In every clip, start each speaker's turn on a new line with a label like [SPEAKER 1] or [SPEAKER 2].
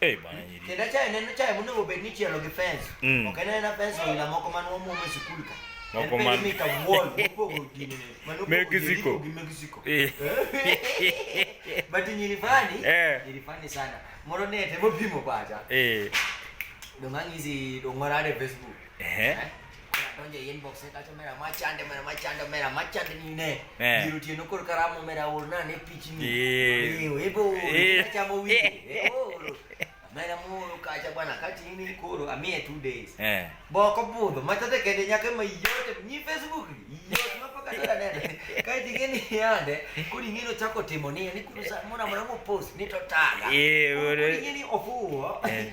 [SPEAKER 1] Eh bwana nyiri. Kenda chai neno chai muno obed ni chielo gi fence. Mm. Ok nena fence ila moko man wo mume sikul ka. Moko man mi ka wall moko gini. Mano Mexico. Gi Mexico. Eh. eh. But nyiri fani. Eh. Nyiri fani sana. Moro ne te mo bimo baja. Eh. Dongangizi dongorare Facebook. Ehe. Donjo e inbox e kacha mera machande mera machande mera machande ni ne. Eh. Biro tiyo nokor karamo mera urna ne pichni. Eh. Iyo ebo. Eh. Chamo wi. Eh. Oro. Mera moro kacha bwana kati ini koro amie two days. Eh. Boko budho matate kende nyaka ma yote ni Facebook. Yote mapaka tara nene. Kati gini yande kuri ngino chako timo ni ni kurusa mona mwana mo post ni to taga. Eh. Kuri ngini ofuo. Eh.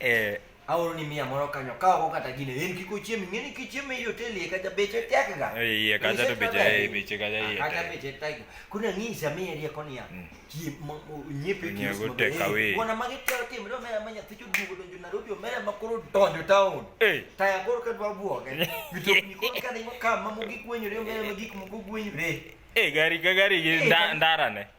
[SPEAKER 1] Eh, aoro ni miya moro kanyo ka oko kata gine en kik ochiem ing'e ni kichiem ei hotel iye kacha beche tekga iye kacha to beche eh, beche kacha iye kacha tek. beche tekga koro ang'isa miye rieko niya Mm. chiem ma- o- nyiepe Nyiew kios go maber. take away. Eh, wana magi tero timre omera ma nyathi choduogo donjo Nairobi omera ma koro donjo taon Eh. taya koro ka dwa buoge mitokni koro ka dhi makam ma mogik gwenyore omera ma gik moko gwenyore Eh, gari ka gari gi Eh, nda- gari- ndarane.